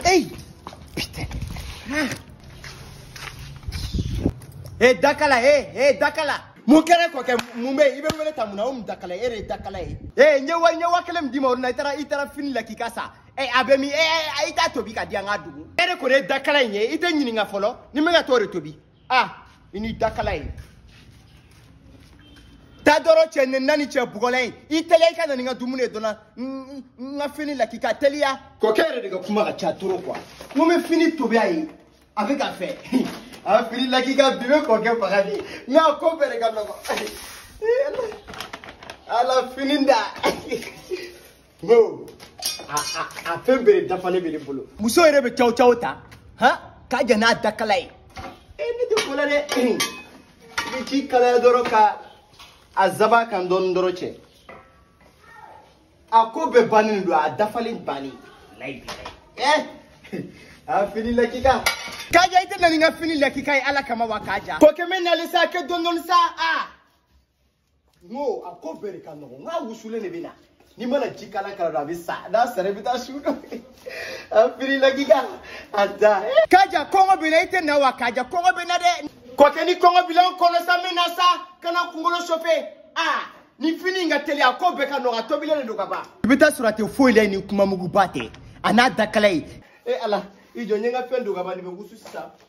Hey Putain ah. Hey Dakala, hey, hey Dakala mun kɛra kɔkɛ mun bɛ yen i bɛ n wele tan mun na o mun dakala e de ye dakala ye ee n ye wa n ye waa kelen min d'i ma o don na i taara i taara fini lakika san ee a bɛ min ee i t'a tobi ka di an ka dun e de kɔni ye dakala in ye i tɛ ɲininka fɔlɔ ni n bɛ ka t'o de tobi ah i ni dakala ye taa dɔrɔn cɛ ni nani cɛ bugɔla ye i teliya i ka na ni n ka dumuni ye dɔnna n ka fini lakika teliya kɔkɛ yɛrɛ de ka kuma ka ca toro kuwa n ko n bɛ fini tobi a ye a bɛ k'a fɔ a fini lakika bi bɛ kɔkɛ faga bi n y'a ko bɛɛ de ka nɔgɔn ala fini da No, a a a fɛn bɛɛ de dafalen bɛ ne bolo. Muso yɛrɛ bɛ caw caw ta, han, Kaja n'a dakala ye. E ne tɛ ko la dɛ, i bɛ ji kalaya dɔrɔn ka a zaba kan dɔɔnin dɔrɔn cɛ. A ko bɛɛ bannen don, a dafalen bannen. Layi bilayi. Ɛ, a fini lakika. Kaja i tɛ na ni n ka fini lakika ye Ala kama wa Kaja. Kɔkɛ n bɛ nalen sa, kɛ dɔɔnin dɔɔnin sa, aa. n ko a ko bɛɛ de ka nɔgɔn n k'a wusulen de bɛ na n'i mana ji kalan k'a la dɔrɔn a bɛ sa n'a sara i bɛ t'a wusu dɔ a fini lakika a da. kaja kɔngɔ bɛ n na i tɛ na wa kaja kɔngɔ bɛ n na dɛ. kɔkɛ ni kɔngɔ bila n kɔnɔ sa n bɛ na sa kana n kunkolo sofe aa ni fini in ka teli a ko bɛɛ ka nɔgɔn a tobilen de don ka ban. i bɛ t'a sɔrɔ a tɛ foyi la ye ni kumamuguba tɛ a n'a dakala ye. e ala i jɔ n ye n ka fɛn don ka ban nin bɛ wusu sisan.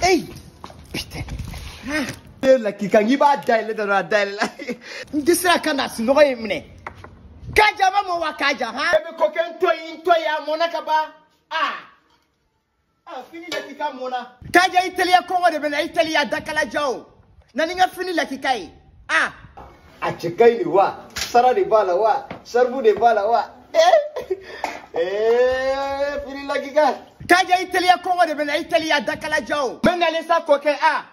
Hey! Putain! Ah! Fini lakika n'i b'a dayɛlɛ dɔrɔn a dayɛlɛla. N tɛ se ka kan na sunɔgɔ ye n minɛ. Kaja a ma mɔ wa Kaja han. E bɛ kɔkɛ n to yen n to yen a mɔna ka ban. Aa! Aa fini lakika mɔna. Kaja i teliya kɔngɔ de bɛ n na i teliya dakalajan o. Na ni n ka fini lakika ye. ah a cɛ ka ɲi ne wa sara de b'a la wa saribu de b'a la wa eh eh fini lakika kaja i teliya kɔngɔ de bɛ n na i teliya dakalajan o n bɛ nalen sa kɔkɛ a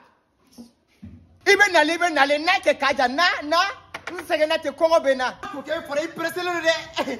i bɛ nalen i bɛ nalen na kɛ kaja na na n sɛgɛnna ten kɔngɔ bɛ n na kɔkɛ fɔra i pereselen don dɛ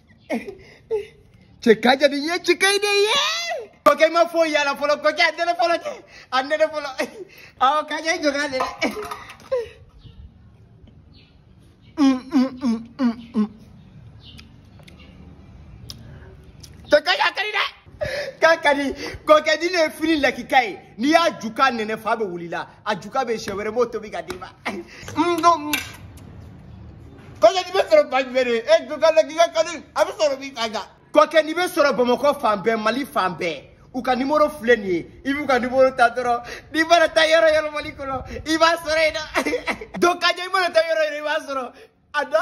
cɛ kaja nin ye cɛkaɲi de ye kɔkɛ i ma foyi y'a la fɔlɔ kɔkɛ a nɛnɛ fɔlɔ cɛ a nɛnɛ fɔlɔ awɔ kaja i jɔ n k'a nɛnɛ cɛ kaja a ka di dɛ k'a ka di kɔkɛ nin de ye fini lakika ye n'i y'a juka nɛnɛ fa bɛ wuli i la a juka bɛ siɲɛ wɛrɛ n b'o tobi ka d'i ma kɔkɛ nin bɛ sɔrɔ fan jumɛn de ye e juka lakika ka di a bɛ sɔrɔ min kaja kɔkɛ nin bɛ sɔrɔ bamakɔ fan bɛɛ mali fan bɛɛ u ka nimoro filɛ nin ye i b'u ka nimoro ta dɔrɔn n'i mana taa yɔrɔ o yɔrɔ mali kɔnɔ i b'a sɔrɔ yen na donc kaja i mana taa yɔrɔ o yɔrɔ i b'a sɔrɔ a dɔ